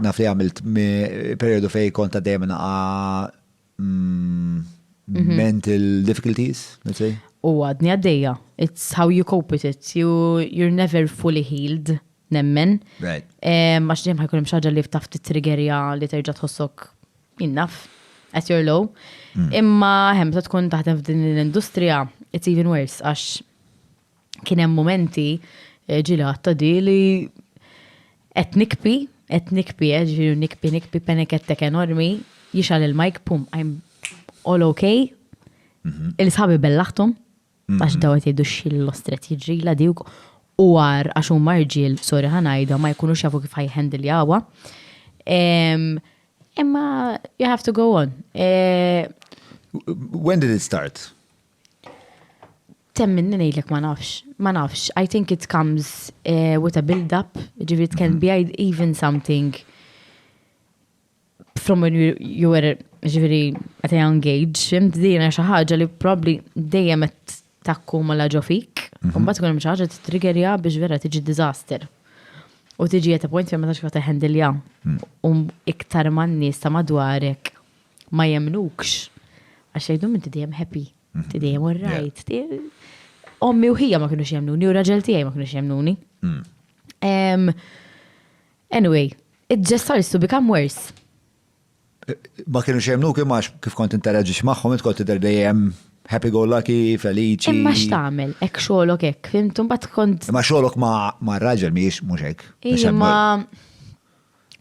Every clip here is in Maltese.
Naf li għamilt periodu fej konta dejjem naqa mm, mhm. mental difficulties, let's say. U għadni għaddeja. It's how you cope with it. You, you're never fully healed, nemmen. Right. Eh, Max dejjem ħajkun hemm xaġa li ftaf titrigerja li terġa' tħossok innaf at your low. Mm. Imma hemm ta' tkun taħdem f'din l-industrija, it's even worse għax kien hemm momenti eh, ġili għatta di li qed nikpi, qed nikpi, eh, ġifieri nikpi, nikpi penekettek enormi, jixal il-mike, pum, I'm all okay. Mhm. Il-sħabi bellaħtum, mhm. għax daw qed jgħidu xil-lostret jiġrila di u għar għax huma marġil, sorry ħanajda, ma jkunux jafu kif ħajħendil jawa. Imma you have to go on. Eh, When did it start? Temminni ngħidlek ma nafx, ma nafx. I think it comes uh, with a build-up, ġifieri it can be even something from when you, you were ġifieri at a young age, fimt dina xi ħaġa li probably dejjem qed takku ma laġo fik, u mhm. mbagħad tkun hemm xi ħaġa titriggerja biex vera tiġi diżaster. U tiġi at a point fejn ma tafx kif teħendilja. Mm. U iktar man-nies ta' madwarek ma jemnukx. Għax jgħidhom inti dejjem happy, inti mhm. dejjem alright. Ommi u ħija ma kienux jemnuni u raġel tiegħi ma kienux jemnuni. Mm. Anyway, it just starts to become worse. Eh, ma kienux jemnuk imma kif kont interaġix magħhom int kont tidher dejjem happy go lucky, felici. Imma x'tagħmel, hekk xogħolok hekk, fimtum bat kont. Imma xogħolok ma' raġel mhijiex mhux hekk. Imma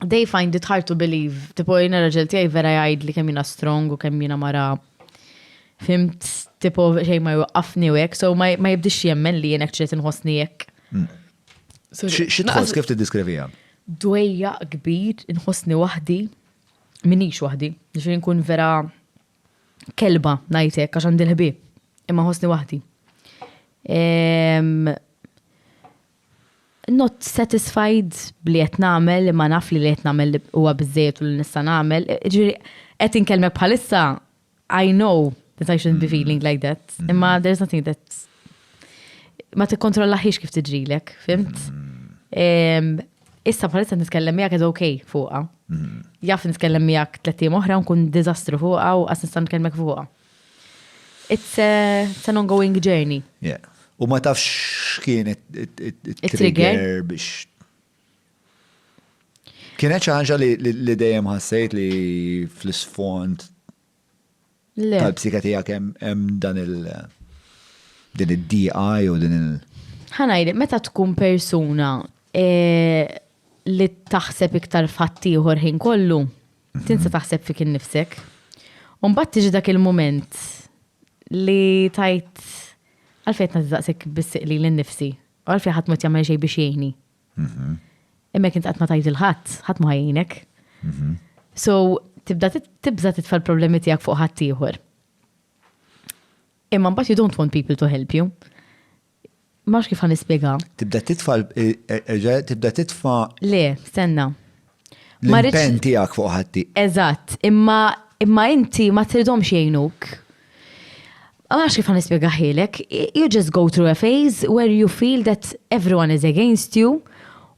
they find it hard to believe. Tipo, jina raġel tijaj vera jgħid li kem jina strong u kem jina mara fimt, tipo, xej ma jwaqqafni u jek, so ma jibdix jemmen li jenek ċet nħosni jek. Mm. Xitħos, kif t-diskrivija? Dwejja kbir, nħosni wahdi, minix wahdi, ġifiri nkun vera kelba najtek, għax għandi l-ħbib, imma ħosni wahdi. not satisfied b'li qed nagħmel imma naf li li qed nagħmel huwa biżżejjed u li nista' nagħmel. Ġifieri qed inkellmek bħalissa I know that I shouldn't be feeling like that. Imma there is nothing that ma tikkontrollaħiex kif tiġrilek, fimt? Issa bħalissa nitkellem miegħek qed ok fuqha. Jaf nitkellem miegħek tliet ijiem oħra nkun diżastru fuqha u qas nista' nitkellmek fuqha. It's an ongoing journey. Yeah. U ma tafx x'kien it-trigger biex. Kienet xi ħaġa li dejjem ħassejt li fl-isfond tal-psika tiegħek hemm dan il- din id-DI u din il- ħanajli, meta tkun persuna eh, li taħseb iktar fattijħor ħin kollu, Tinsa taħseb fik innifsek. U mbagħad tiġi dak il-mument li tajt għalfejn qed nagħti bis-siq li l-nifsi. U għalfejn ħadd ma jagħmel xejn biex jgħinni. Mhm. Imma kint qatt ma tajt il-ħadd, ħadd ma jgħinek. Mhm. So, tibda tibża titfa' l-problemi tiegħek fuq ħadd ieħor. Imma mbagħad you don't want people to help you. Mhux kif ħanispjega. Tibda titfa' erġa' tibda titfa'. Le, stenna. L-impenn tiegħek fuq ħatti. Eżatt, imma imma inti ma tridhomx jgħinuk. Ma nafx kif ħanispjegaħilek. You just go through a phase where you feel that everyone is against you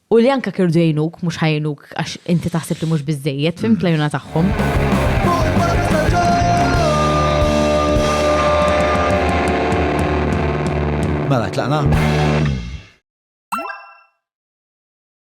U li anka kirdu jgħinuk, mhux ħajnuk għax inti taħseb li mhux biżejjed, fim mm. tlajuna tagħhom. Mela, tlaqna?